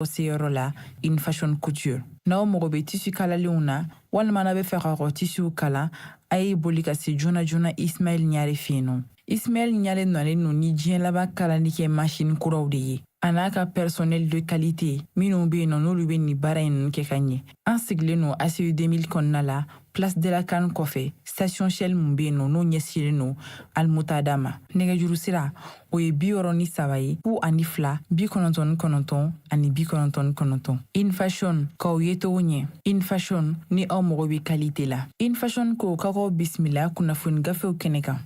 o seyɔrɔ la in fashion couture n'aw mago bɛ tisu kalalenw na walima n'a bɛ fɛ ka kɔ tisuw kala a ye boli ka se joona joona ismaɛl ɲare fɛ yen nɔ ismaɛl ɲare nalen no ni diɲɛ laban kalali kɛ masini kuraw de ye a n'a ka personnel de qualité minnu bɛ yen nɔ n'olu bɛ nin baara in ninnu kɛ ka ɲɛ an sigilen no ACI 2000 kɔnɔna la place de la CAN kɔfɛ station shell mun be yen nɔ n'o ɲɛsilen no almutada ma nɛgɛjuru sira o ye bi wɔɔrɔ ni saba ye fu ani fila bi kɔnɔntɔn ni kɔnɔntɔn ani bi kɔnɔntɔn ni kɔnɔntɔn in fashion k'aw yecogo ɲɛ in fashion ni aw mago be kalite la in fashion ko ka k'aw bisimila kunnafoni gafew kɛnɛ kan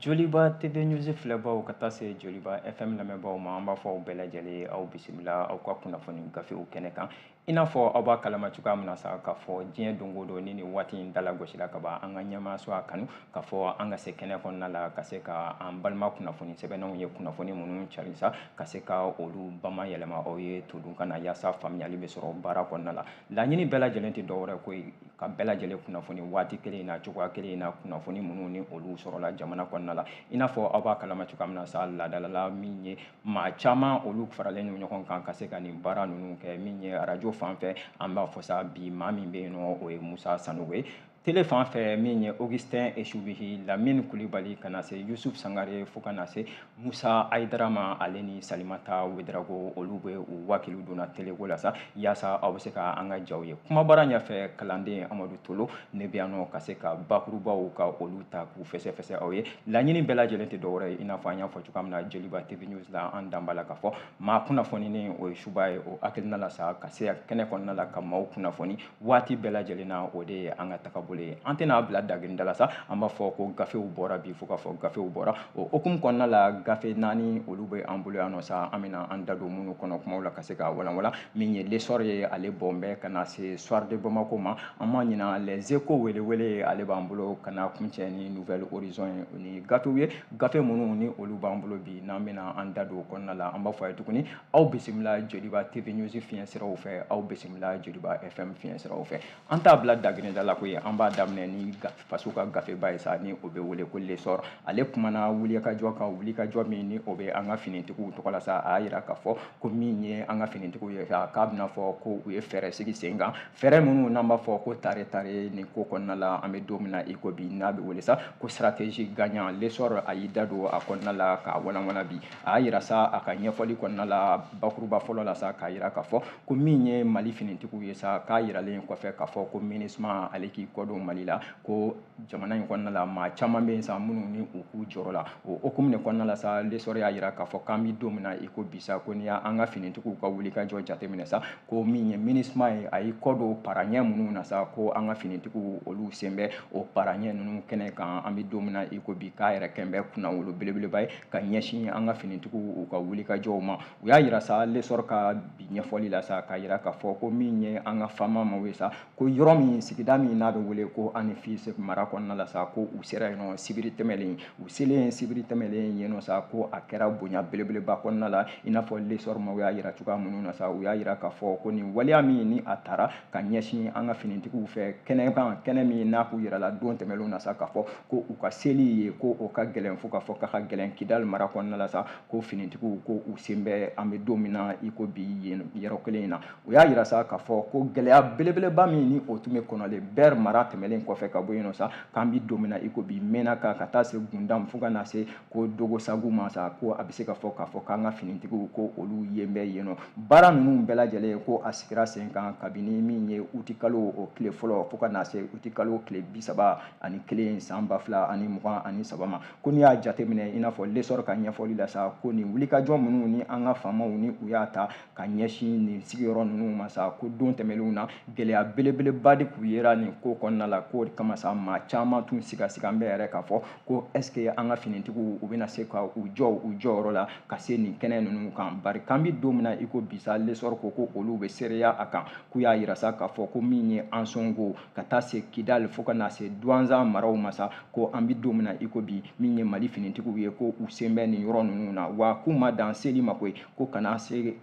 Joliba TV News filɛbaw ka taa se Joliba FM lamɛnbaw ma an b'a fɔ aw bɛɛ lajɛlen aw bisimila aw ka kunnafoni gafew kɛnɛ kan i n'a fɔ aw b'a kalama cogoya min na sa k'a fɔ diɲɛ don o don ni nin waati in dala gosila ka ban an ka ɲɛmaaso a kanu k'a fɔ an ka se kɛnɛ kɔnɔna la ka se ka an balima kunnafoni sɛbɛnnaw ye kunnafoni minnu cari sa ka se ka olu bama yɛlɛma aw ye todunkan na yaasa faamuyali bɛ sɔrɔ baara kɔnɔna la laɲini bɛɛ lajɛlen tɛ dɔwɛrɛ ko ka bɛɛ lajɛlen kunnafoni waati kelen in na cogoya kelen in na kunnafoni minnu ni olu sɔrɔla jamana kɔnɔna la i n'a fɔ aw b'a kalama cogoya min na sa laadalala min ye maa caman olu faralen no ɲɔgɔn kan ka se ka nin baara ninnu kɛ min ye arajo fan fɛ an b'a fɔ sa bi maa min bɛ yen nɔ o ye musa sanogo ye tele fan fɛ min ye augustin esubihi lamini kulibali ka na se yusuf sangare fo ka na se Musa Ayidara ma ale ni Salimata Wederago olu bɛ u wakiliw don a teleko la sa yaasa aw bɛ se ka an ka jaw ye kumabara ɲɛfɛ kalanden Amadu Tolo ne bɛ yan nɔ ka se ka bakurubaw ka olu ta k'u fɛsɛfɛsɛ aw ye laɲini bɛɛ lajɛlen tɛ dɔwɛrɛ ye i n'a fɔ an y'a fɔ cogoya min na Joliba TV News la an dan b'a la k'a fɔ maa kunnafoninen o ye suba ye o hakilina la sa ka se kɛnɛ kɔnɔna la ka maaw kunnafoni waati bɛɛ lajɛlen na o de ye an ka tagabolo ye an tɛn'a bila dagirida la sa an b'a fɔ ko gafew bɔra bi fo k'a fɔ gafew bɔra o hukumu kɔnɔna la gafe naani olu bɛ an bolo yan nɔ sa an bɛna an da don minnu kɔnɔ kumaw la ka se ka walanwalan min ye l'essor ye ale bɔn bɛ ka na se soir de bamako ma an ma ɲina les échos welewele ale b'an bolo ka na kuncɛ ni nouvel horizon ye o ni gafew ye gafe minnu ni olu b'an bolo bi n'an bɛna an da don o kɔnɔna la an b'a fɔ a ye tuguni aw bisimila joliba tv news fiɲɛ siraw fɛ aw bisimila joliba fm fiɲɛ siraw fɛ an t'a bila daginɛda la koyi an b'a daminɛ ni faso ka gafeba ye sa ni o bɛ wele ko l'essor ale kumana wulikajɔ kan wulikajɔ min ni o bɛ an ka finitigiw tɔgɔ la sa a y'a yira k'a fɔ ko min ye an ka finitigiw ye sa k'a bɛna fɔ ko u ye fɛɛrɛ sigi sen kan fɛɛrɛ minnu n'an b'a fɔ ko tare tare nin ko kɔnɔna la an bɛ don min na i ko bi n'a bɛ wele sa ko stratégie gagnante l'essor a y'i da don a kɔnɔna la k'a walawala bi a y'a yira sa a ka ɲɛfɔli kɔnɔna la bakuruba fɔlɔ la sa k'a yira k'a fɔ ko min ye mali finitigiw ye sa k'a yiralen kɔfɛ k'a fɔ ko minisma ale k'i kɔdon mali la ko jamana in kɔnɔna la maa caman bɛ yen sa minnu ni u tun jɔrɔla o hukumu de kɔnɔna la sa lesɔrɔ y'a yira k'a fɔ k'an bɛ don min na i ko bi sa ko n'i y'an ka finitigiw ka wulikajɔ jateminɛ sa ko min ye minisma ye a y'i kɔdon paraɲɛ minnu na sa ko an ka finitigiw olu sen bɛ o paraɲɛ ninnu kɛnɛ kan an bɛ don min na i ko bi k'a yɛrɛ kɛn bɛ kunnawolo belebeleba ye ka ɲɛsin an ka finitigiw u ka wulikajɔw ma u y'a yira sa lesɔr ka bi ɲɛfɔli la sa k'a yira k'a fɔ ko min ye an ka faama maw ye sa ko yɔrɔ min sigida min n'a bɛ wele ko anefisi mara kɔnɔna la sa ko u sera yen nɔ sibiri tɛmɛlen u selen sibiri tɛmɛlen yen nɔ sa ko a kɛra bonya belebeleba kɔnɔna la i n'a fɔ lesɔr maw y'a yira cogoya minnu na sa u y'a yira k'a fɔ ko nin waleya min ni a tara ka ɲɛsin an ka finitigiw fɛ kɛnɛ kan kɛnɛ min n'a tun yirala don tɛmɛnlenw na sa k'a fɔ ko u ka seli yen ko o ka gɛlɛn fo k'a fɔ k'a ka gɛlɛn kidali mara kɔnɔna la sa ko finitigiw ko u sen bɛ an bɛ don min na i ko bi yen yɔrɔ kelen in na u y'a yira sa k'a fɔ ko gɛlɛya belebeleba min ni o tun bɛ kɔnɔlen bɛri mara tɛmɛnlen kɔfɛ ka bɔ yen nɔ sa k'an bɛ don min na i ko bi menaka ka taa se gundam fo ka na se ko ogosagu ma sa ko a bɛ se ka fɔ k'a fɔ k'an ka finitigiw ko olu yen bɛ yen nɔ baara ninnu bɛɛ lajɛlen ko a sigira sen kan kabini min ye utikalo o tile fɔlɔ fo ka na se utikalo tile bi saba ani kelen san ba fila ani mugan ani saba ma ko n'i y'a jateminɛ i n'a fɔ lesɔrɔ ka ɲɛfɔli la sa ko nin wulikajɔ minnu ni an ka faamaw ni u y'a ta ka ɲɛsin nin sigiyɔrɔ ninnu ma sa ko don tɛmɛnenw na gɛlɛya belebeleba de tun yera nin ko kɔnɔna la k'o de kama sa maa caman tun sigasigan bɛ yɛrɛ k'a fɔ ko est ce que an ka finitigiw u bɛna se ka u jɔ u jɔyɔrɔ la ka se nin kɛnɛ ninnu kan bari k'an bi don min na i ko bi sa lesɔrɔ ko ko olu bɛ seereya a kan k'u y'a yira sa k'a fɔ ko min ye ansongo ka taa se kidali fo ka na se duwanzan maraw ma sa ko an bi don min na i ko bi min ye mali finitigiw ye ko u sen bɛ nin yɔrɔ ninnu na wa k'u ma dan seli ma koyi ko ka na se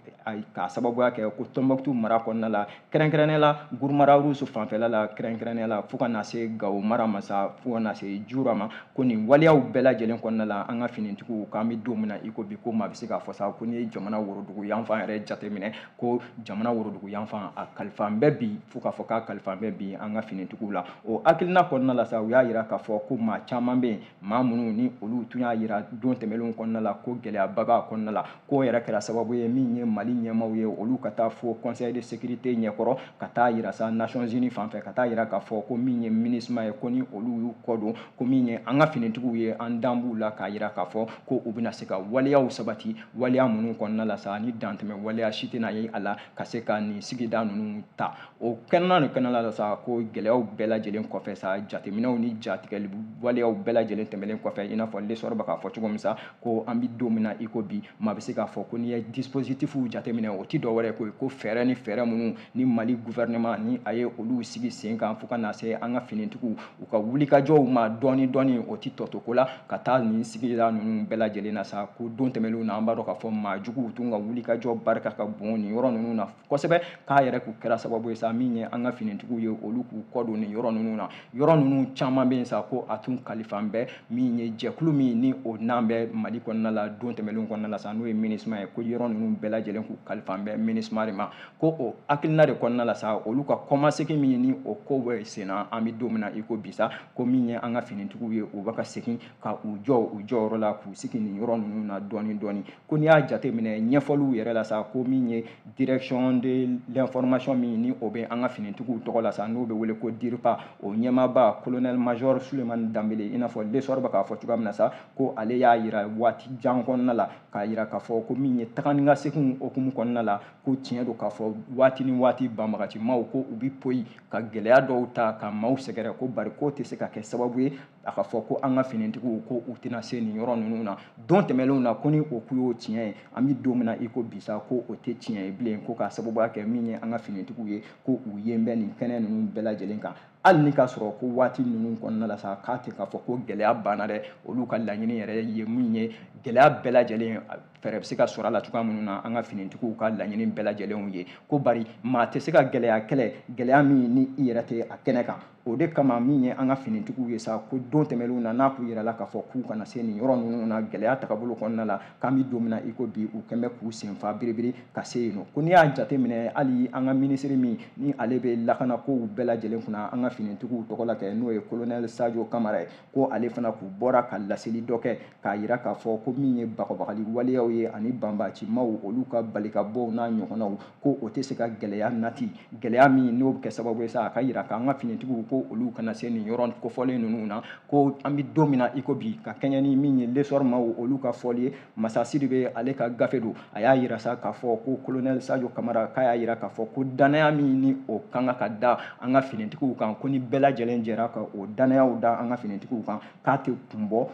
k'a sababuya kɛ ko tɔnbɔkutu mara kɔnɔna la kɛrɛnkɛrɛnnenya la guruma rarusu fanfɛla la kɛrɛnkɛrɛnnenya la fo ka na se gawo mara ma sa fo ka na se jura ma ko nin waleyaw bɛɛ lajɛlen kɔnɔna la an ka finitigiw k'an bɛ don min na i ko bi ko maa bɛ se k'a fɔ sa ko n'i ye jamana worodugu yanfan yɛrɛ jateminɛ ko jamana worodugu yanfan a kalifan bɛ bi fo k'a fɔ k'a kalifan bɛ bi an ka finitigiw la o hakilina kɔnɔna la sa u y'a yira k'a fɔ ko maa caman bɛ yen maa minnu ni olu tun y'a yira don tɛmɛnlenw kɔnɔna la ko gɛlɛyaba b'a kɔnɔna la k'o yɛrɛ kɛra sababu ye min ye mali ɲɛmaaw ye olu ka taa fo conseil de sécurité ɲɛkɔrɔ ka taa yira sa nations unies fan fɛ ka taa yira k'a fɔ ko min ye minisma ye ko ni olu y'u kɔ don ko min ye an ka finitigiw ye an dan b'u la k'a yira k'a fɔ ko u bɛna se ka waleyaw sabati waleya minnu kɔnɔna la sa ni dantɛmɛ waleya si tɛna ye a la ka se ka nin sigida ninnu ta o kɛnɛ nin kɔnɔna la sa ko gɛlɛyaw bɛɛ lajɛlen kɔfɛ sa jateminɛw ni jatigɛli waleyaw bɛɛ lajɛlen tɛmɛlen kɔfɛ i n'a fɔ lesɔrɔ bɛ k'a fɔ cogo min sa ko an bɛ don min na i ko bi maa bɛ se k'a fɔ ko n'i ye dispositifu jateminɛ o tɛ dɔwɛrɛ ko ye ko fɛɛrɛ ni fɛɛrɛ minnu ni mali gouvernement ni a ye olu sigi sen kan fo ka na se an ka finitigiw u ka wulikajɔw ma dɔɔni dɔɔni o tɛ tɔto ko la ka taa nin sigida ninnu bɛɛ lajɛlen na sa ko don tɛmɛnlenw na an b'a dɔn k'a fɔ maa juguw tun ka wulikajɔ barika ka bon nin yɔrɔ ninnu na kosɛbɛ k'a yɛrɛ kun kɛra sababu ye sa min ye an ka finitigiw ye olu k'u kɔ don nin yɔrɔ ninnu na yɔrɔ ninnu caman bɛ yen sa ko a tun kalifan bɛ min ye jɛkulu min ni o nan bɛ mali kɔnɔna la don tɛmɛnlenw kɔnɔna la sa n'o ye MINUSMA ye ko yɔrɔ ninnu bɛɛ lajɛlen k'u kalifan bɛ MINUSMA de ma ko o hakilina de kɔnɔna la sa olu ka kɔmasegin min ni o ko bɛ senna an bɛ don min na i ko bi sa ko min ye an ka finitigiw ye u bɛ ka segin ka u jɔ u jɔyɔrɔ la k'u sigi nin yɔrɔ ninnu na dɔɔni dɔɔni ko n'i y'a jateminɛ ɲɛfɔliw yɛrɛ la sa ko min ye direction de l'information min ni o bɛ an ka finitigiw tɔgɔ la sa n'o bɛ wele ko DIRPA o ɲɛmaaba colonel major Sulemani Danbele i n'a fɔ Lesɔr bɛ k'a fɔ cogoya min na sa ko ale y'a yira waati jan kɔnɔna la k'a yira k'a fɔ ko min ye taga ni ka seginw hukumu kɔnɔna la ko tiɲɛ don k'a fɔ waati ni waati banbagacimaw ko u bɛ poyi ka gɛlɛya dɔw ta ka maaw sɛgɛrɛ ko bari k'o tɛ se ka kɛ sababu ye a ka fɔ ko an ka finitigiw ko u tɛna se nin yɔrɔ ninnu na don tɛmɛnlenw na ko ni o kun y'o tiɲɛ ye an bɛ don min na i ko bi sa ko o tɛ tiɲɛ ye bilen ko k'a sababuya kɛ min ye an ka finitigiw ye ko u yen bɛ nin kɛnɛ ninnu bɛɛ lajɛlen kan hali ni k'a sɔrɔ ko waati ninnu kɔnɔna la sa k'a tɛ k'a fɔ ko gɛlɛya banna dɛ olu ka laɲini yɛrɛ ye min ye gɛlɛya bɛɛ lajɛlen fɛɛrɛ bɛ se ka sɔrɔ a la cogoya minnu na an ka finitigiw ka laɲini bɛɛ lajɛlenw ye ko bari maa tɛ se ka gɛlɛya kɛlɛ gɛlɛya min ni i yɛrɛ tɛ a kɛnɛ kan o de kama min ye an ka finitigiw ye sa ko don tɛmɛnlenw na n'a kun yirala k'a fɔ k'u kana se nin yɔrɔ ninnu na gɛlɛya tagabolo kɔnɔna la k'an bɛ don min na i ko bi u kɛn bɛ k'u senfa biribiri ka se yen nɔ ko n'i y'a jateminɛ hali an ka minisiri min ni ale bɛ lakana kow bɛɛ lajɛlen kunna an ka finitigiw tɔgɔ la kɛ n'o ye kolonɛli sajo kamara ye ko ale fana kun bɔra ka laseli dɔ kɛ k'a yira k'a fɔ ko min ye bagabagali waleyaw ye ani banbaacimaw olu ka balikabɔw n'a ɲɔgɔnnaw ko o tɛ se ka gɛlɛya nati gɛlɛya min n'o bɛ kɛ sababu ye sa a ka yira k'an ka finitigiw ko olu kana se nin yɔrɔ kofɔlen ninnu na ko an bɛ don min na i ko bi ka kɛɲɛ ni min ye lesɔr maaw olu ka fɔli ye masa sidibe ale ka gafe don a y'a yira sa k'a fɔ ko kolonɛli sajo kamara k'a y'a yira k'a fɔ ko danaya min ni o kan ka da an ka finitigiw kan ko ni bɛɛ lajɛlen jɛra ka o danayaw da an ka finitigiw kan k'a tɛ kun bɔ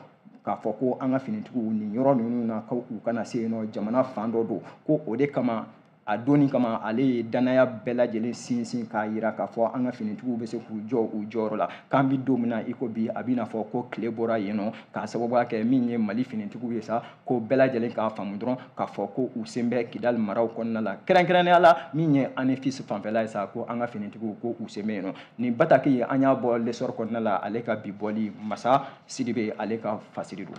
k'a fɔ ko an ka finitigiw nin yɔrɔ ninnu na ko u kana se yen nɔ jamana fan dɔ don ko o de kama a donni kama ale ye dannaya bɛɛ lajɛlen sinsin k'a yira k'a fɔ an ka finitigiw bɛ se k'u jɔ u jɔyɔrɔ la k'an bɛ don min na i ko bi a bɛna fɔ ko tile bɔra yen nɔ k'a sababuya kɛ min ye mali finitigiw ye sa ko bɛɛ lajɛlen k'a faamu dɔrɔn k'a fɔ ko u sen bɛ kidali maraw kɔnɔna la kɛrɛnkɛrɛnnenya la min ye anefisi fanfɛla ye sa ko an ka finitigiw ko u sen bɛ yen nɔ nin bataki in an y'a bɔ lesɔrɔ kɔnɔna la ale ka bi bɔli masa sidibe ale ka fasiri don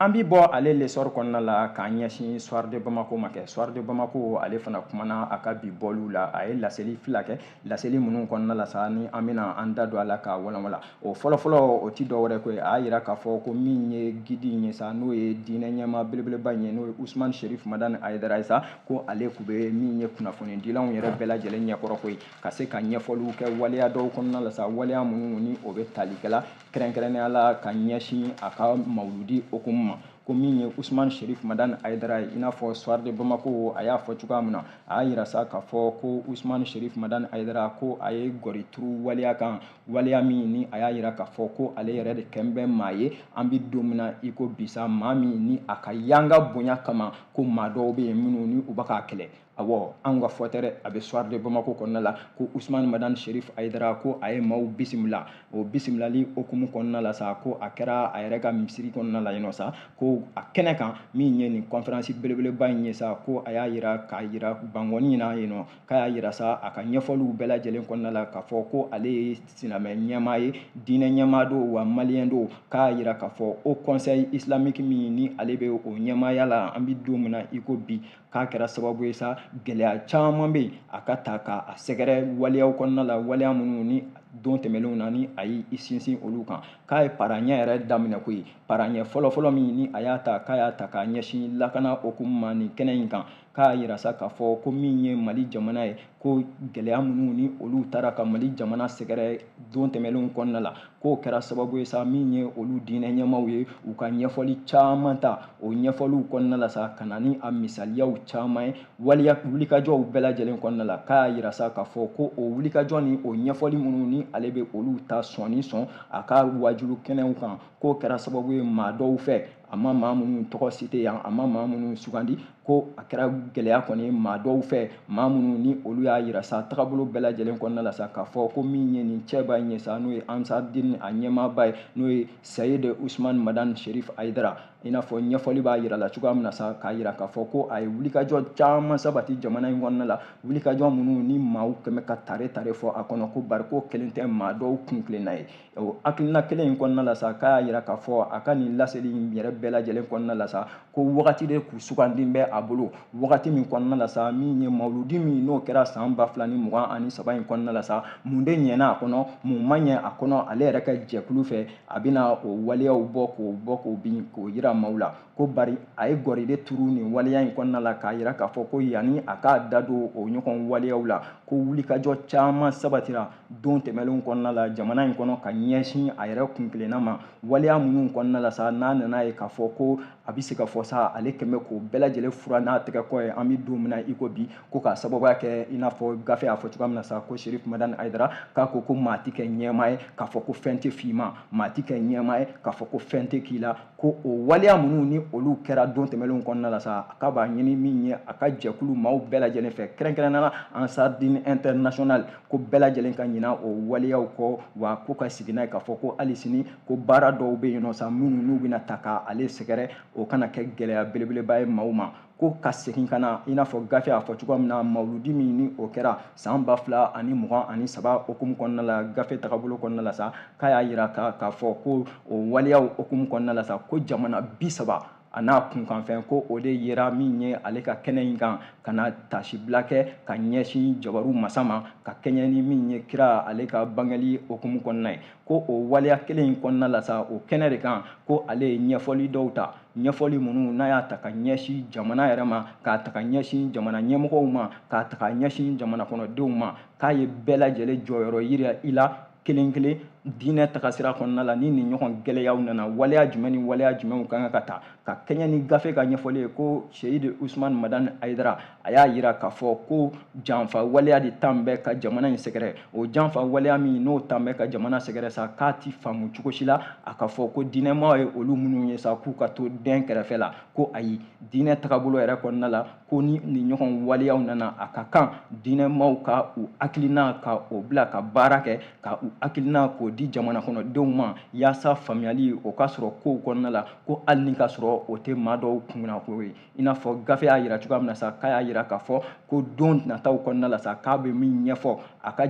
an bi bɔ ale lesɔri kɔnɔna la k'an ɲɛsin soir de bamako ma kɛ soir de bamako ale fana kumana a ka bi bɔliw la a ye laseli fila kɛ laseli minnu kɔnɔna la sa ni an bɛna an da don a la k'a walawala o fɔlɔfɔlɔ o ti dɔwɛrɛ ko ye a y'a yira k'a fɔ ko min ye gidi in ye sa n'o ye diinɛ ɲɛmaa belebeleba in ye n'o ye usumani sherif madani ayidara ye sa ko ale tun bɛ min ye kunnafonidilanw yɛrɛ bɛɛ lajɛlen ɲɛkɔrɔ koyi ka se ka ɲɛfɔliw kɛ waleya dɔw kɔnɔna la sa waleya minnu ni o bɛ tali kɛla kɛrɛnkɛrɛnnenya la ka ɲɛsin a ka mawuludi hukumu ma ko min ye usman sherif madan ayidara ye i n'a fɔ soir de bamako a y'a fɔ cogoya min na a y'a yira sa k'a fɔ ko usman sherif madan ayidara ko a ye gɔri turu waleya kan waleya min ni a y'a yira k'a fɔ ko ale yɛrɛ de kɛn bɛ maa ye an bɛ don min na i ko bisa maa min ni a ka yanga bonya kama ko maa dɔw bɛ yen minnu ni u bɛ k'a kɛlɛ awɔ anw ka fɔ tɛ dɛ a bɛ soir de bamako kɔnɔna la ko usumani madani sherif ayidara ko a ye maaw bisimila o bisimilali hukumu kɔnɔna la sa ko a kɛra a yɛrɛ ka misiri kɔnɔna la yen nɔ sa ko a kɛnɛ kan min ye nin kɔnferansi belebeleba in ye sa ko a y'a yira k'a yira bangɔni na yen nɔ k'a y'a yira sa a ka ɲɛfɔliw bɛɛ lajɛlen kɔnɔna la k'a fɔ ko ale ye silamɛ ɲɛmaa ye diinɛ ɲɛmaa don wa maliyɛn don k'a yira k'a fɔ o conseil islamique min ni ale bɛ o ɲɛmaaya la an bɛ don min na i ko bi k'a kɛra sababu ye sa gɛlɛya caman bɛ yen a ka taa k'a sɛgɛrɛ waleyaw kɔnɔna la waleya minnu ni don tɛmɛnlenw na ni a y'i sinsin olu kan k'a ye paraɲɛ yɛrɛ daminɛ ko ye paraɲɛ fɔlɔfɔlɔ min ni a y'a ta k'a y'a ta k'a ɲɛsin lakana hukumu ma nin kɛnɛ in kan k'a yira sa k'a fɔ ko min ye mali jamana ye ko gɛlɛya minnu ni olu taara ka mali jamana sɛgɛrɛ don tɛmɛnlenw kɔnɔna la k'o kɛra sababu ye sa min ye olu diinɛ ɲɛmaaw ye u ka ɲɛfɔli caman ta o ɲɛfɔliw kɔnɔna la sa ka na ni a misaliyaw caman ye waleya wulikajɔw bɛɛ lajɛlen kɔnɔna la k'a yira sa k'a fɔ ko o wulikajɔ ni o ɲɛfɔli minnu ni ale bɛ olu ta sɔnni sɔn a ka wajulu kɛnɛw kan k'o kɛra sababu ye maa dɔw fɛ a ma maa minnu tɔgɔ site yan a ma maa minnu sugandi ko a kɛra gɛlɛya kɔni maa dɔw fɛ maa minnu ni olu y'a yira sa tagabolo bɛɛ lajɛlen kɔnɔna la sa k'a fɔ ko min ye nin cɛba in ye sa n'o ye ansardin a ɲɛmaaba ye n'o ye sayid usman madan sherif ayidara i n'a fɔ ɲɛfɔli b'a yira la cogoya min na sa k'a yira k'a fɔ ko a ye wulikajɔ caman sabati jamana in kɔnɔna la wulikajɔ minnu ni maaw kɛmɛ ka tare tare fɔ a kɔnɔ ko bari ko kelen tɛ maa dɔw kuntilenna ye o hakilina kelen in kɔnɔna la sa k'a y'a yira k'a fɔ a ka nin laseli in yɛrɛ bɛɛ lajɛlen kɔnɔna la sa ko wagati de kun sugandilen bɛ a bolo wagati min kɔnɔna la sa min ye mawuludi min n'o kɛra san ba fila ni mugan ani saba in kɔnɔna la sa mun de ɲɛna a kɔnɔ mun ma ɲɛ a kɔnɔ ale yɛrɛ ka jɛkulu fɛ a bɛna o waleyaw bɔ k'o bɔ k'o bin k'o yira maaw la ko bari a ye gɔri de turu nin waleya in kɔnɔna la k'a yira k'a fɔ ko yanni a k'a da don o ɲɔgɔn waleyaw la ko wulikajɔ caman sabatira don tɛmɛnlenw kɔnɔna la jamana in kɔnɔ ka ɲɛsin a yɛrɛ kuntilenna ma waleya minnu kɔnɔna la sa n'a nana ye k'a fɔ ko a bɛ se ka fɔ sa ale kɛmɛ k'o bɛɛ lajɛlen furan n'a tɛgɛ kɔ ye an bɛ don min na i ko bi ko k'a sababuya kɛ i n'a fɔ gafe y'a fɔ cogoya min na sa ko serif madani ayidara k'a ko ko maa tɛ kɛ ɲɛmaa ye k'a fɔ ko fɛn tɛ f'i ma maa tɛ kɛ ɲɛmaa ye k'a fɔ ko fɛn tɛ k'i la ko o waleya minnu ni olu kɛra don tɛmɛnlenw kɔnɔna la sa a k'a b'a ɲini min ye a ka jɛkulu maaw bɛɛ lajɛlen fɛ kɛrɛnkɛrɛnnana ansardin international ko bɛɛ lajɛlen ka ɲina o waleyaw kɔ wa ko ka sigi n'a ye k'a fɔ ko hali sini ko baara dɔw bɛ yen nɔ sa minnu n'u bɛna ta ka ale sɛgɛrɛ o kana kɛ gɛlɛya belebeleba ye maaw ma ko ka segin ka na i n'a fɔ gafe y'a fɔ cogoya min na mawuludi min ni o kɛra san ba fila ani mugan ani saba hukumu kɔnɔna la gafe tagabolo kɔnɔna la sa k'a y'a yira k'a fɔ ko o waleyaw hukumu kɔnɔna la sa ko jamana bi saba a n'a kunkanfɛn ko o de yera min ye ale ka kɛnɛ in kan ka na taasibila kɛ ka ɲɛsin jabaru masa ma ka kɛɲɛ ni min ye kira ale ka bangeli hukumu kɔnɔna ye ko o waleya kelen in kɔnɔna la sa o kɛnɛ de kan ko ale ye ɲɛfɔli dɔw ta ɲɛfɔli minnu n'a y'a ta ka ɲɛsin jamana yɛrɛ ma k'a ta ka ɲɛsin jamana ɲɛmɔgɔw ma k'a ta ka ɲɛsin jamana kɔnɔdenw ma k'a ye bɛɛ lajɛlen jɔyɔrɔ yira i la kelen kelen diinɛ tagasira kɔnɔna la ni nin ɲɔgɔn gɛlɛyaw nana waleya jumɛn ni waleya jumɛnw ka kan ka ta ka kɛɲɛ ni gafe ka ɲɛfɔli ye ko seyidi usumani madani ayidara a y'a yira k'a fɔ ko janfa waleya de tan bɛ ka jamana in sɛgɛrɛ o janfa waleya min n'o tan bɛ ka jamana sɛgɛrɛ sa k'a ti faamu cogo si la a ka fɔ ko diinɛmaw ye olu minnu ye sa k'u ka to dɛn kɛrɛfɛ la ko ayi diinɛ tagabolo yɛrɛ kɔnɔna la ko ni nin ɲɔgɔn waleyaw nana a ka kan diinɛmaw ka u hakilina ka o bila ka baara kɛ ka u hakilina k'o di jamana kɔnɔdenw ma yaasa faamuyali o ka sɔrɔ kow kɔnɔna la ko hali ni ka sɔrɔ o tɛ maa dɔw kunna ko ye i n'a fɔ gafe y'a yira cogoya min na sa k'a y'a yira k'a fɔ ko don nataw kɔnɔna la sa k'a bɛ min ɲɛfɔ a ka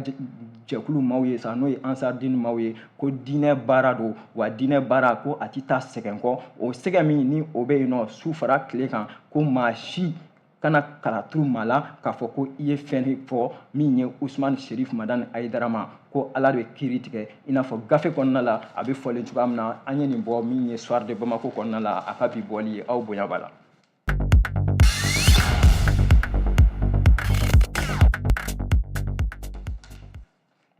jɛkulu maaw ye sa n'o ye ansardini maaw ye ko diinɛ baara don wa diinɛ baara ko a tɛ taa sɛgɛn kɔ o sɛgɛn min ni o bɛ yen nɔ su fara tile kan ko maa si kana kalaturu maa la k'a fɔ ko i ye fɛn fɔ min ye usumani sherif madani ayidara ma ko ala de kiri tigɛ i n'a fɔ gafe kɔnɔna la a bɛ fɔlen cogoya min na an ye nin bɔ min ye soir de bamako kɔnɔna la a ka bi bɔli ye aw bonya b'a la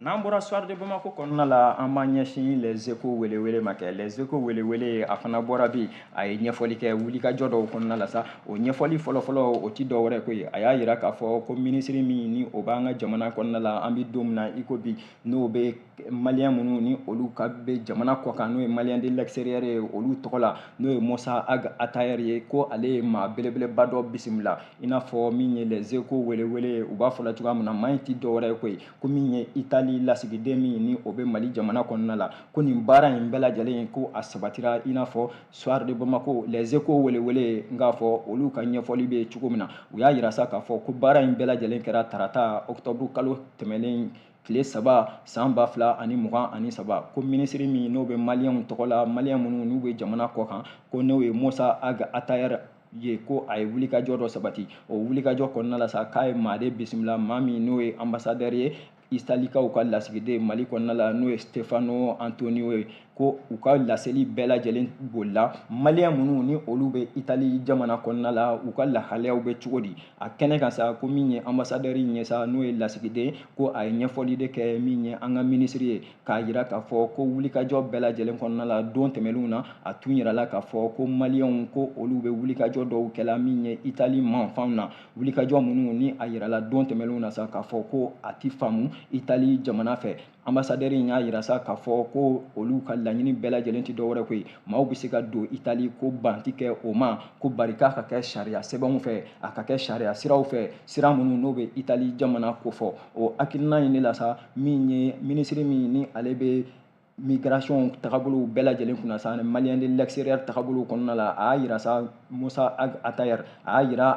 n'an bɔra soir de bamako kɔnɔna la an b'an ɲɛsin les échos welewele ma kɛ les échos welewele a fana bɔra bi a ye ɲɛfɔli kɛ wulikajɔ dɔw kɔnɔna la sa o ɲɛfɔli fɔlɔfɔlɔ o ti dɔ wɛrɛ ko ye a y'a yira k'a fɔ ko minisiri min ni o b'an ka jamana kɔnɔna la an bɛ don min na i ko bi n'o bɛ maliyɛn minnu ni olu ka bɛ jamana kɔkan n'o ye maliens de l'extérieur ye olu tɔgɔ la n'o ye Mossa Ag Attaher ye ko ale ye maa belebeleba dɔ bisimila i n'a fɔ min ye les échos welewele u b'a fɔla cogoya min na maa in ti dɔ wɛrɛ ye ko ye ko min ye itali lasigiden min ni o bɛ mali jamana kɔnɔna la ko nin baara in bɛɛ lajɛlen ko a sabatira i n'a fɔ soir de bamako les échos welewele n k'a fɔ olu ka ɲɛfɔli bɛ cogo min na u y'a yira sa k'a fɔ ko baara in bɛɛ lajɛlen kɛra tarata octobre kalo tɛmɛnen tile saba san ba fila ani mugan ani saba ko minisiri min n'o bɛ maliyɛnw tɔgɔ la maliyɛn minnu n'u bɛ jamana kɔ kan ko n'o ye mossa ag attaher ye ko a ye wulikajɔ dɔ sabati o wulikajɔ kɔnɔna la sa k'a ye maa de bisimila maa min n'o ye anbasadɛri ye italikaw ka lasigiden mali kɔnɔna la n'o ye stefano antonio ye ko u ka laseli bɛɛ lajɛlen bolila maliyɛn minnu ni olu bɛ itali jamana kɔnɔna la u ka lahalayaw bɛ cogo di a kɛnɛ kan sa ko min ye anbasadɛri in ye sa n'o ye lasigiden ko a ye ɲɛfɔli de kɛ min ye an ka minisiri ye k'a yira k'a fɔ ko wulikajɔ bɛɛ lajɛlen kɔnɔna la don tɛmɛnenw na a tun yirala k'a fɔ ko maliyɛnw ko olu bɛ wulikajɔ dɔw kɛla min ye itali manfanw na wulikajɔ minnu ni a yirala don tɛmɛnenw na sa k'a fɔ ko a ti faamu itali jamana fɛ anbasadɛri in y'a yira sa k'a fɔ ko olu ka laɲini bɛɛ lajɛlen ti dɔwɛrɛ ko ye maaw bɛ se ka don itali ko ban ti kɛ o ma ko bari k'a ka kɛ sariya sɛbɛnw fɛ a ka kɛ sariya siraw fɛ sira minnu n'o bɛ itali jamana kofɔ o hakilina in de la sa min ye minisiri min ni ale bɛ migration tagabolow bɛɛ lajɛlen kunna sa maliens de l'extérieur tagabolow kɔnɔna la a y'a yira sa Mossa Ag Attaher a y'a yira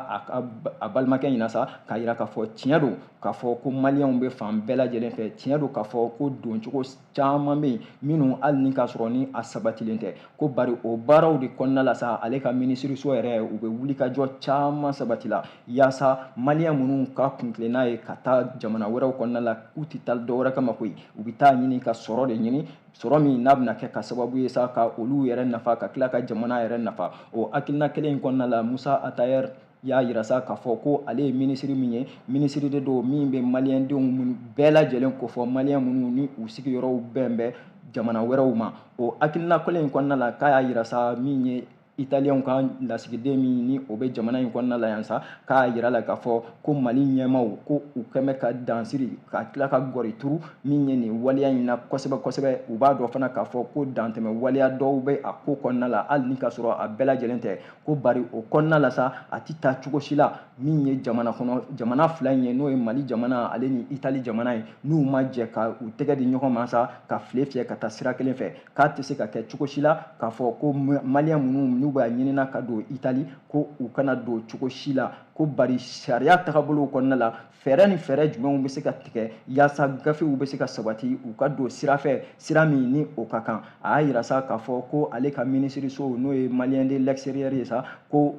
a balimakɛ ɲɛna sa k'a yira k'a fɔ tiɲɛ don k'a fɔ ko maliyɛnw bɛ fan bɛɛ lajɛlen fɛ tiɲɛ don k'a fɔ ko doncogo caman bɛ yen minnu hali ni k'a sɔrɔ ni a sabatilen tɛ ko bari o baaraw de kɔnɔna la sa ale ka minisiriso yɛrɛ u bɛ wulikajɔ caman sabatila yaasa maliyɛn minnu ka kuntilenna ye ka taa jamana wɛrɛw kɔnɔna la k'u tɛ taa dɔ wɛrɛ kama koyi u bɛ taa ɲini ka sɔrɔ de ɲini sɔrɔ min n'a bɛna kɛ ka sababu ye sa ka olu yɛrɛ nafa ka tila ka jamana yɛrɛ nafa o hakilina kelen in kɔnɔna la musa atayɛr y'a yira sa k'a fɔ ko ale ye minisiri min ye minisiri de don min bɛ maliyɛndenw minnu bɛɛ lajɛlen kofɔ maliyɛn minnu ni u sigiyɔrɔw bɛn bɛ jamana wɛrɛw ma o hakilina kelen in kɔnɔna la k'a y'a yira sa min ye italiyɛnw ka lasigiden min ni o bɛ jamana in kɔnɔna la yan sa k'a yira la k'a fɔ ko mali ɲɛmaaw ko u kɛn bɛ ka dansiri ka tila ka gɔri turu min ye nin waleya in na kosɛbɛ kosɛbɛ u b'a dɔn fana k'a fɔ ko dantɛmɛ waleya dɔw bɛ a ko kɔnɔna la hali ni k'a sɔrɔ a bɛɛ lajɛlen tɛ ko bari o kɔnɔna la sa a ti taa cogo si la min ye jamana kɔnɔ jamana fila in ye n'o ye mali jamana ale ni itali jamana ye n'u ma jɛ ka u tɛgɛ di ɲɔgɔn ma sa ka file fiyɛ ka taa sira kelen fɛ k'a tɛ se ka kɛ cogo si la k'a fɔ ko maliyɛn minnu n'u b'a ɲinina ka don itali ko u kana don cogo si la ko bari sariya tagabolow kɔnɔna la fɛɛrɛ ni fɛɛrɛ jumɛnw bɛ se ka tigɛ yaasa gafew bɛ se ka sabati u ka don sira fɛ sira min ni o ka kan a y'a yira sa k'a fɔ ko ale ka minisiriso n'o ye maliens de l'extérieur ye sa ko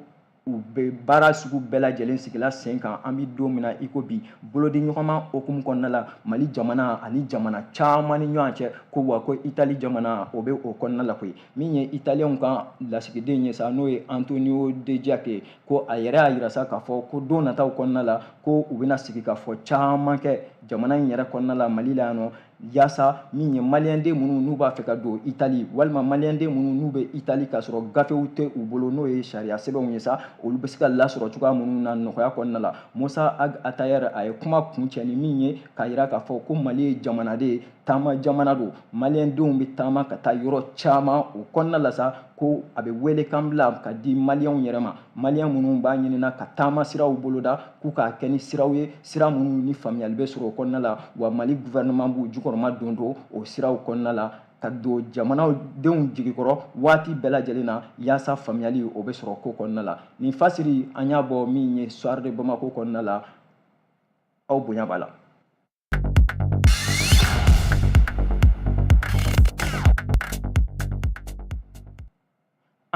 u bɛ baara sugu bɛɛ lajɛlen sigila sen kan an bɛ don min na i ko bi bolodi ɲɔgɔnma hukumu kɔnɔna la mali jamana ani jamana caman ni ɲɔgɔn cɛ ko wa ko itali jamana o bɛ o kɔnɔna la koyi min ye italiyɛnw ka lasigiden ye sa n'o ye antonio dejak ko a yɛrɛ y'a yira sa k'a fɔ ko don nataw kɔnɔna la ko u bɛna sigikafɔ caman kɛ jamana in yɛrɛ kɔnɔna la mali la yan nɔ yaasa min ye maliyɛnden minnu n'u b'a fɛ ka don itali walima maliyɛnden minnu n'u bɛ itali k'a sɔrɔ gafew tɛ u bolo n'o ye sariya sɛbɛnw ye sa olu bɛ se ka lasɔrɔ cogoya minnu na nɔgɔya kɔnɔna la musa ag atayɛr a ye kuma kuncɛ ni min ye k'a yira k'a fɔ ko mali ye jamana de ye taama jamana don maliyɛndenw bɛ taama ka taa yɔrɔ caman o kɔnɔna la sa ko a bɛ welekan bila ka di maliyɛnw yɛrɛ ma maliyɛn minnu b'a ɲinina ka taama siraw boloda k'u k'a kɛ ni siraw ye sira minnu ni faamuyali bɛ sɔrɔ o kɔnɔna la wa mali guvɛrɛnɛman b'u jukɔrɔmadondon o siraw kɔnɔna la ka don jamanadenw jigi kɔrɔ waati bɛɛ lajɛlen na yaasa faamuyali o bɛ sɔrɔ ko kɔnɔna la nin fasiri an y'a bɔ min ye soir de bamako kɔnɔna la aw bonya b'a la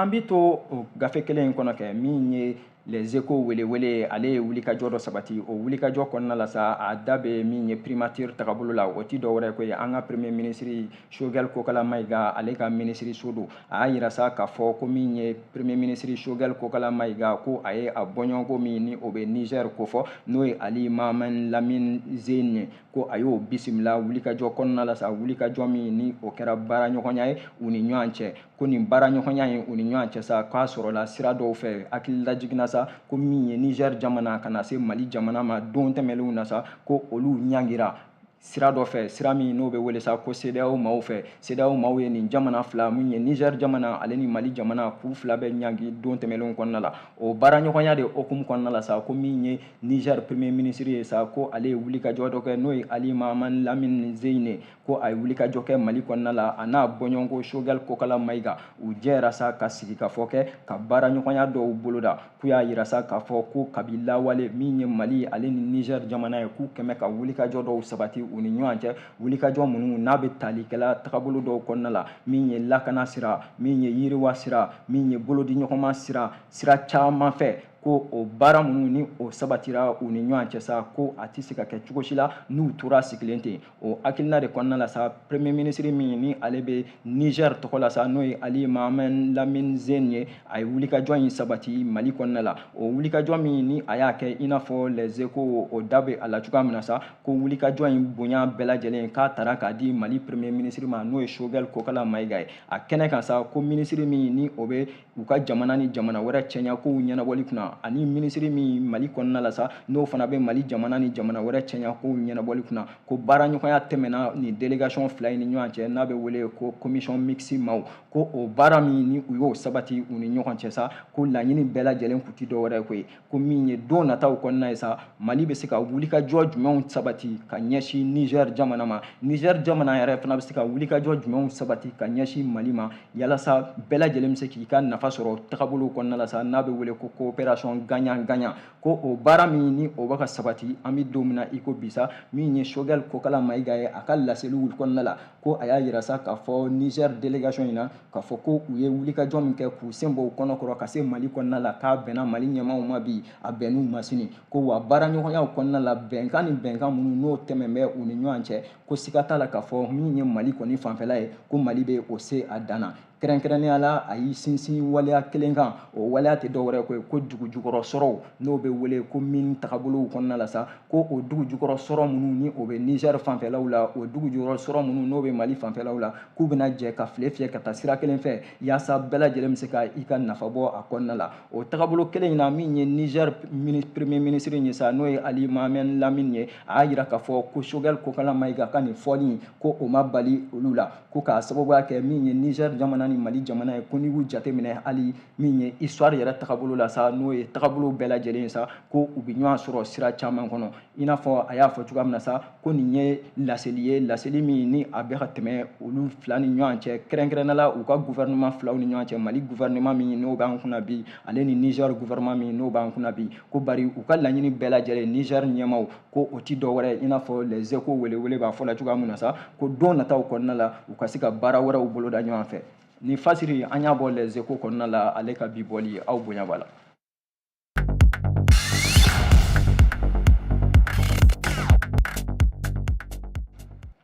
an bɛ to o gafe kelen in kɔnɔ kɛ min ye les échos welewele ye ale ye wulikajɔ dɔ sabati o wulikajɔ kɔnɔna la sa a da bɛ min ye primature tagabolo la o ti dɔ wɛrɛ ko ye an ka premier minisiri sogɛli kokala mayiga ale ka minisiriso don a y'a yira sa k'a fɔ ko min ye premier minisiri Choguel Kokala Mayiga ko a ye a bɔɲɔgɔnko min ni o bɛ Niger kofɔ n'o ye Ali Mahaman Lamine Zeine ye ko a y'o bisimila wulikajɔ kɔnɔna la sa wulikajɔ min ni o kɛra baaraɲɔgɔnya ye u ni ɲɔgɔn cɛ ko nin baaraɲɔgɔnya in u ni ɲɔgɔn cɛ sa k'a sɔrɔla sira dɔw fɛ hakili lajiginna sa ko min ye Niger jamana ka na se Mali jamana ma don tɛmɛnlenw na sa ko olu ɲangira sira dɔ fɛ sira min n'o bɛ wele sa ko CEDEAO maaw fɛ CEDEAO maaw ye nin jamana fila min ye Niger jamana ale ni Mali jamana k'u fila bɛɛ ɲangi don tɛmɛnlenw kɔnɔna la o baaraɲɔgɔnya de hukumu kɔnɔna la sa ko min ye Niger premier ministre ye sa ko ale ye wulikajɔ dɔ kɛ n'o ye Ali Mahaman Lamine Zeine ko a ye wulikajɔ kɛ Mali kɔnɔna la a n'a bɔɲɔgɔnko Choguel Kokala Mayiga u jɛra sa ka sigikafɔ kɛ ka baaraɲɔgɔnya dɔw boloda k'u y'a yira sa k'a fɔ ko kabi lawale min ye mali ale ni niger jamana ye k'u kɛmɛ ka wulikajɔ dɔw sabati u ni ɲɔgɔn cɛ wulikajɔ minnu n'a bɛ talikɛla tagabolo dɔw kɔnɔna la min ye lakana sira min ye yiriwa sira min ye bolodiɲɔgɔnma sira sira caman fɛ ko o baara minnu ni o sabatira u ni ɲɔgɔn cɛ sa ko a tɛ se ka kɛ cogo si la n'u tora sigilen ten o hakilina de kɔnɔna la sa premier ministre min ni ale bɛ niger tɔgɔ la sa n'o ye ali mahaman lamine zeine ye a ye wulikajɔ in sabati mali kɔnɔna la o wulikajɔ min ni a y'a kɛ i n'a fɔ les échos o da bɛ a la cogoya min na sa ko wulikajɔ in bonya bɛɛ lajɛlen k'a tara k'a di mali premier ministre ma n'o ye choguel kokala mayiga ye a kɛnɛ kan sa ko ministre min ni o bɛ u ka jamana ni jamana wɛrɛ cɛya kow ɲɛnabɔli kunna ani minisiri min mali kɔnɔna la sa n'o fana bɛ mali jamana ni jamana wɛrɛ cɛya kow ɲɛnabɔli kunna ko baaraɲɔgɔnya tɛmɛna nin délégation fila in ni ɲɔgɔn cɛ n'a bɛ wele ko commission mixte maaw ko o baara min ni u y'o sabati u ni ɲɔgɔn cɛ sa ko laɲini bɛɛ lajɛlen kun tɛ dɔwɛrɛ ko ye ko min ye don nataw kɔnɔna ye sa mali bɛ se ka wulikajɔ jumɛnw sabati ka ɲɛsin niger jamana ma niger jamana yɛrɛ fana bɛ se ka wulikajɔ jumɛnw sabati ka ɲɛsin mali ma yalasa bɛɛ lajɛlen bɛ se k'i ka nafa sɔrɔ tagabolow kɔnɔna la sa n'a bɛ wele ko coopération gagnant gagnant ko o baara min ni o bɛ ka sabati an bɛ don min na i ko bi sa min ye choguel kokala mayiga ye a ka laseliw kɔnɔna la ko a y'a yira sa k'a fɔ niger délégation in na k'a fɔ ko u ye wulikajɔ min kɛ k'u sen bɔ u kɔnɔ kɔrɔ ka se mali kɔnɔna la k'a bɛnna mali ɲɛmaaw ma bi a bɛnn'u ma sini ko wa baaraɲɔgɔnyaw kɔnɔna la bɛnkan ni bɛnkan minnu n'o tɛmɛn bɛ u ni ɲɔgɔn cɛ ko siga t'a la k'a fɔ min ye mali kɔni fanfɛla ye ko mali bɛ o se a dan na kɛrɛnkɛrɛnnenya la a y'i sinsin waleya kelen kan o waleya tɛ dɔwɛrɛ ye ko dugu jukɔrɔ sɔrɔw n'o bɛ wele ko mine tagabolow kɔnɔna la sa ko o dugu jukɔrɔ sɔrɔ minnu ni o bɛ niger fanfɛlaw la o dugu jukɔrɔ sɔrɔ minnu n'o bɛ mali fanfɛlaw la k'u bɛna jɛ ka file fiyɛ ka taa sira kelen fɛ yaasa bɛɛ lajɛlen bɛ se ka i ka nafa bɔ a kɔnɔna la o tagabolo kelen in na min ye niger premier minisiri ye sa n'o ye ali mahaman lamine ye a y'a yira k'a fɔ ko choguel kokala mayiga ka nin fɔli ko o ma bali olu la ko k'a sababuya kɛ min ye niger jamana ni mali jamana ye ko n'i y'u jateminɛ hali min ye histoire yɛrɛ tagabolo la sa n'o ye tagabolo bɛɛ lajɛlen sa ko u bɛ ɲɔgɔn sɔrɔ sira caman kɔnɔ i n'a fɔ a y'a fɔ cogoya min na sa ko nin ye laseli ye laseli min ni a bɛ ka tɛmɛ olu fila ni ɲɔgɔn cɛ kɛrɛnkɛrɛnnenya la u ka gouvernement filaw ni ɲɔgɔn cɛ mali gouvernement min n'o b'an kunna bi ale ni niger gouvernement min n'o b'an kunna bi ko bari u ka laɲini bɛɛ lajɛlen niger ɲɛmaaw ko o ti dɔ wɛrɛ i n'a fɔ les échos welewele b'a fɔ la cogoya min na sa ko don nataw kɔnɔna la u ka se ka baara wɛrɛw boloda ɲɔgɔn fɛ nin fasiri an y'a bɔ les échos kɔnɔna la ale ka bi bɔli aw bonya b'a la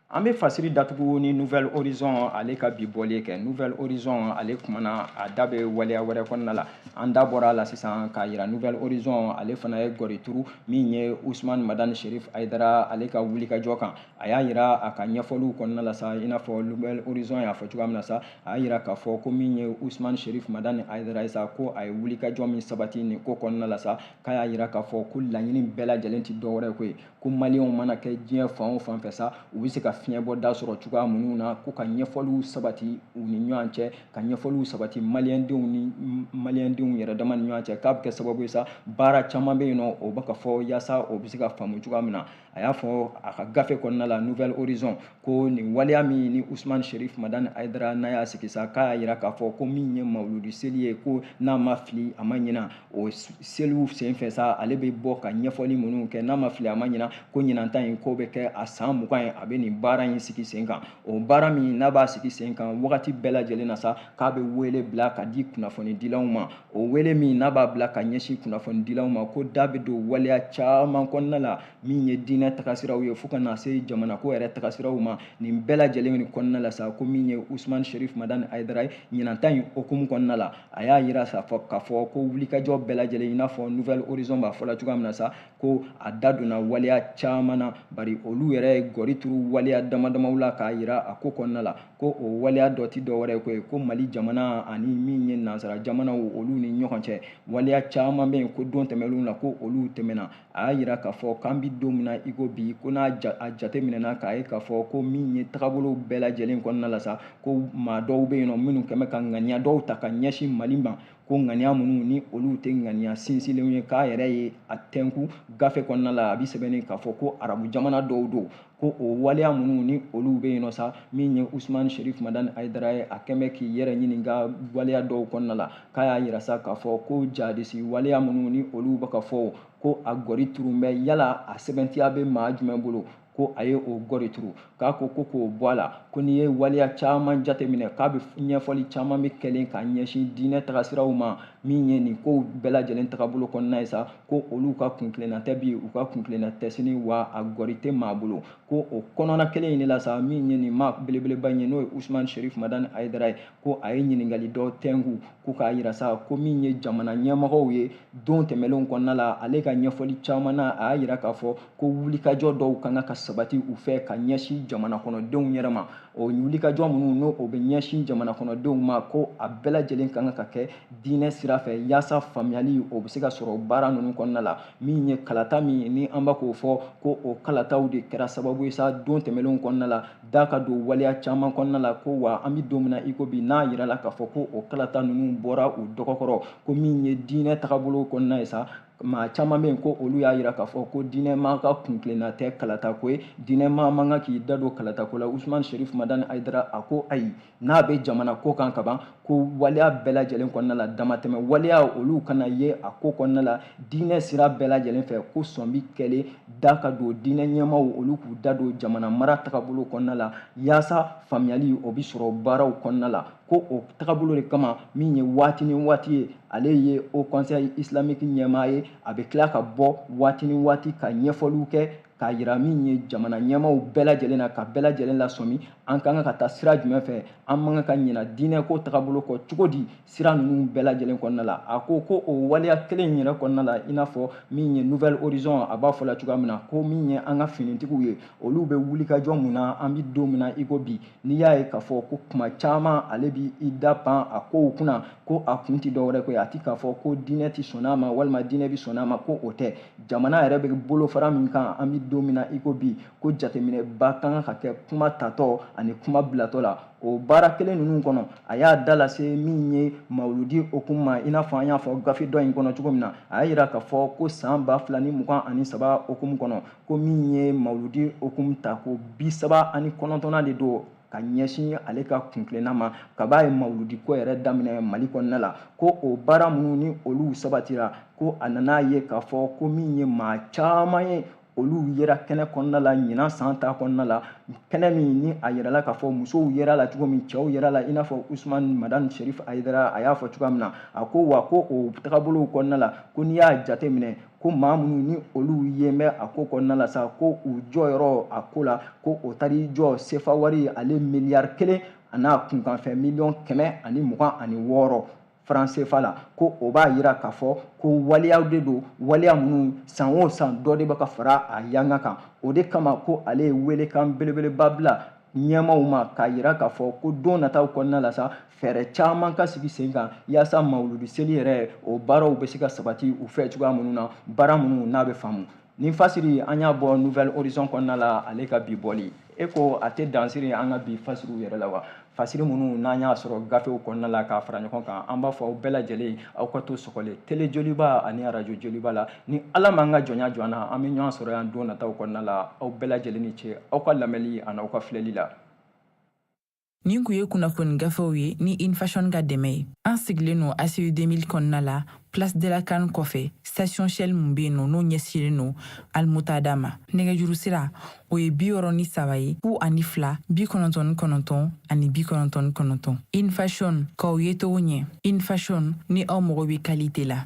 an bɛ fasiri datugu ni nouvelle horizon ale ka bi bɔli kɛ nouvelle horizon ale kumana a da bɛ waleya wɛrɛ kɔnɔna la an da bɔra a la sisan k'a yira nouvelle horizon ale fana ye gɔri turu min ye usman madani sherif ayidara ale ka wulikajɔ kan a y'a yira a ka ɲɛfɔliw kɔnɔna la sa i n'a fɔ nouvelle horizon y'a fɔ cogoya min na sa a y'a yira k'a fɔ ko min ye usman sherif madani ayidara ye sa ko a ye wulikajɔ min sabati nin ko kɔnɔna la sa k'a y'a yira k'a fɔ ko laɲini bɛɛ lajɛlen tɛ dɔwɛrɛ ko ye ko maliyɛnw mana kɛ diɲɛ fan o fan fɛ sa u bɛ se ka fiɲɛbɔda sɔrɔ cogoya minnu na ko ka ɲɛfɔliw sabati u ni ɲɔgɔn cɛ ka ɲɛfɔliw sabati maliyɛndenw ni maliyɛndenw yɛrɛ dama ni ɲɔgɔn cɛ k'a bɛ kɛ sababu ye sa baara caman bɛ yen nɔ o bɛ ka fɔ yaasa o bɛ se ka faamu cogoya min na a y'a fɔ a ka gafe kɔnɔna la nouvelle horizon ko nin waleya min ni usman sherif madani ayidara n'a y'a sigi sa k'a y'a yira k'a fɔ ko min ye mawuludi seli ye ko n'a ma fili a ma ɲina o seliw senfɛ sa ale bɛ bɔ ka ɲɛfɔli minnu kɛ n'a ma fili a ma ɲina ko ɲinanta in ko bɛ kɛ a san mugan ye a bɛ nin baara in sigi sen kan o baara min n'a b'a sigi sen kan wagati bɛɛ lajɛlen na sa k'a bɛ wele bila ka di kunnafonidilaw ma o wele min n'a b'a bila ka ɲɛsin kunnafonidilaw ma ko da bɛ don waleya caman kɔnɔna la min ye diinɛ tagasiraw ye fo ka na se jamanako yɛrɛ tagasiraw ma nin bɛɛ lajɛlen kɔnɔna la sa ko min ye usumani sherif madani ayidara ye ɲinanta in hukumu kɔnɔna la a y'a yira k'a fɔ ko wulikajɔ bɛɛ lajɛlen i n'a fɔ nouvelle horizon b'a fɔ la cogoya min na sa ko a da donna waleya caman na bari olu yɛrɛ ye gɔri turu waleya dama damaw la k'a yira a ko kɔnɔna la ko o waleya dɔ tɛ dɔ wɛrɛ ko ye ko mali jamana ani min ye nansara jamanaw olu ni ɲɔgɔn cɛ waleya caman bɛ yen ko don tɛmɛnlenw na ko olu tɛmɛna a y'a yira k'a fɔ k'an bɛ don min na i ko bi ko n'a a jateminɛna k'a ye k'a fɔ ko min ye tagabolow bɛɛ lajɛlen kɔnɔna la sa ko maa dɔw bɛ yen nɔ minnu kɛmɛ ka ŋaniya dɔw ta ka ɲɛsin mali ma ko ŋaniya minnu ni olu tɛ ŋaniya sinsinlenw ye k'a yɛrɛ ye a tɛnku gafe kɔnɔna la a bɛ sɛbɛnnen k'a fɔ ko arabu jamana dɔw don ko o waleya minnu ni olu bɛ yen nɔ sa min ye usumani sherif madani ayidara ye a kɛn bɛ k'i yɛrɛ ɲininka waleya dɔw kɔnɔna la k'a y'a yira sa k'a fɔ ko jadisi waleya minnu ni olu bɛ ka fɔ ko a gɔri turu bɛ yala a sɛbɛntiya bɛ maa jumɛn bolo ko a ye o gɔri turu k'a ko ko k'o bɔ a la ko n'i ye waleya caman jateminɛ k'a bɛ ɲɛfɔli caman bɛ kɛlen ka ɲɛsin diinɛ tagasiraw ma min ye nin kow bɛɛ lajɛlen tagabolo kɔnɔna ye sa ko olu ka kuntilenna tɛ bi u ka kuntilenna tɛ sini wa a gɔri tɛ maa bolo ko o kɔnɔna kelen in de la sa min ye nin maa belebeleba in ye n'o ye usman sherif madani ayidara ye ko a ye ɲininkali dɔ tɛnku ko k'a yira sa ko min ye jamana ɲɛmɔgɔw ye don tɛmɛnlenw kɔnɔna la ale ka ɲɛfɔli caman na a y'a yira k'a fɔ ko wulikajɔ dɔw ka kan ka sabati u fɛ ka ɲɛsin jamana kɔnɔdenw yɛrɛ ma o wulikajɔ minnu n'o o bɛ ɲɛsin jamana kɔnɔdenw ma ko a bɛɛ lajɛlen ka kan ka kɛ diinɛ sira fɛ yaasa faamuyali o bɛ se ka sɔrɔ baara ninnu kɔnɔna la min ye kalata min ni an bɛ k'o fɔ ko o kalataw de kɛra sababu ye sa don tɛmɛnlenw kɔnɔna la da ka don waleya caman kɔnɔna la ko wa an bɛ don min na i ko bi n'a yirala k'a fɔ ko o kalata ninnu bɔra u dɔgɔ kɔrɔ ko min ye diinɛ tagabolo kɔnɔna ye sa maa caman bɛ yen ko olu y'a yira k'a fɔ ko diinɛ maa ka kuntilenna tɛ kalatako ye diinɛ maa man kan k'i da don kalatako la usumani sherif madani ayidara a ko ayi n'a bɛ jamana ko kan kaban ko waleya bɛɛ lajɛlen kɔnɔna la damatɛmɛ waleya olu kana ye a ko kɔnɔna la diinɛ sira bɛɛ lajɛlen fɛ ko sɔn bi kɛlen da ka don diinɛ ɲɛmaaw olu k'u da don jamana mara tagabolo kɔnɔna la yaasa faamuyali o bɛ sɔrɔ baaraw kɔnɔna la ko o tagabolo de kama min ye waati ni waati ye ale ye haut conseil islamique ɲɛmaa ye a bɛ tila ka bɔ waati ni waati ka ɲɛfɔliw kɛ k'a yira min ye jamana ɲɛmaaw bɛɛ lajɛlen na ka bɛɛ lajɛlen lasɔmi an ka kan ka taa sira jumɛn fɛ an man kan ka ɲina diinɛ ko tagabolo kɔ cogo di sira ninnu bɛɛ lajɛlen kɔnɔna la a ko ko o waleya kelen in yɛrɛ kɔnɔna la i n'a fɔ min ye nouvel horizon a b'a fɔ la cogoya min na ko min ye an ka finitigiw ye olu bɛ wulikajɔ min na an bɛ don min na i ko bi n'i y'a ye k'a fɔ ko kuma caman ale bi i da pan a kow kunna ko a kun tɛ dɔwɛrɛ ko ye a ti k'a fɔ ko diinɛ ti sɔn a ma walima diinɛ bi sɔn a ma ko o tɛ jamana yɛrɛ bɛ bolofara min kan an bi don min na i ko bi ko jateminɛba ka kan ka kɛ kuma tatɔ ani kuma bilatɔ la o baara kelen ninnu kɔnɔ a y'a da lase min ye mawuludi hukumu ma i n'a fɔ an y'a fɔ gafe dɔ in kɔnɔ cogo min na a y'a yira k'a fɔ ko san ba fila ni mugan ani saba hukumu kɔnɔ ko min ye mawuludi hukumu tako bi saba ani kɔnɔntɔnnan de don ka ɲɛsin ale ka kuntilenna ma kab'a ye mawuludiko yɛrɛ daminɛ mali kɔnɔna la ko o baara minnu ni olu sabatira ko a nan'a ye k'a fɔ ko min ye maa caman ye olu yera kɛnɛ kɔnɔna la ɲinan san ta kɔnɔna la kɛnɛ min ni a yirala k'a fɔ musow yera la cogo min cɛw yera la i n'a fɔ usman madani sherif ayidara a y'a fɔ cogoya min na a ko wa ko o tagabolow kɔnɔna la ko n'i y'a jate minɛ ko maa minnu ni olu ye mɛ a ko kɔnɔna la sa ko u jɔyɔrɔ a ko la ko o taar'i jɔ sefa wari ale miliyari kelen an'a kunkanfɛ miliyɔn kɛmɛ ani mugan ani wɔɔrɔ faran sefa la ko o b'a yira k'a fɔ ko waleyaw de don waleya minnu san o san dɔ de bɛ ka fara a yanga kan o de kama ko ale ye welekan belebeleba bila ɲɛmaaw ma k'a yira k'a fɔ ko don nataw kɔnɔna la sa fɛɛrɛ caman ka sigi sen kan yaasa mawuludi seli yɛrɛ o baaraw bɛ se ka sabati u fɛ cogoya minnu na baara minnu n'a bɛ faamu nin fasiri an y'a bɔ nouvel horizon kɔnɔna la ale ka bi bɔli e ko a tɛ dan siri an ka bi fasiriw yɛrɛ la wa fasiri minnu n'an y'a sɔrɔ gafew kɔnɔna la k'a fara ɲɔgɔn kan an b'a fɔ aw bɛɛ lajɛlen aw ka to sɔgɔlen tele joliba ani arajo joliba la ni ala m'an ka jɔnya jɔ an na an bɛ ɲɔgɔn sɔrɔ yan don nataw kɔnɔna la aw bɛɛ lajɛlen ni ce aw ka lamɛnli ani aw ka filɛli la nin kun ye kunnafoni gafew ye ni infashion ka dɛmɛ ye an sigilen no aci 2000 kɔnɔna la place de la kan kɔfɛ station shell mun bɛ yen nɔ n'o ɲɛsigilen no almuntada ma nɛgɛjuru sira o ye bi wɔɔrɔ ni saba ye fu ani fila bi kɔnɔntɔn ni kɔnɔntɔn ani bi kɔnɔntɔn ni kɔnɔntɔn infashion k'aw ye cogo ɲɛ infashion ni aw mago bɛ kalite la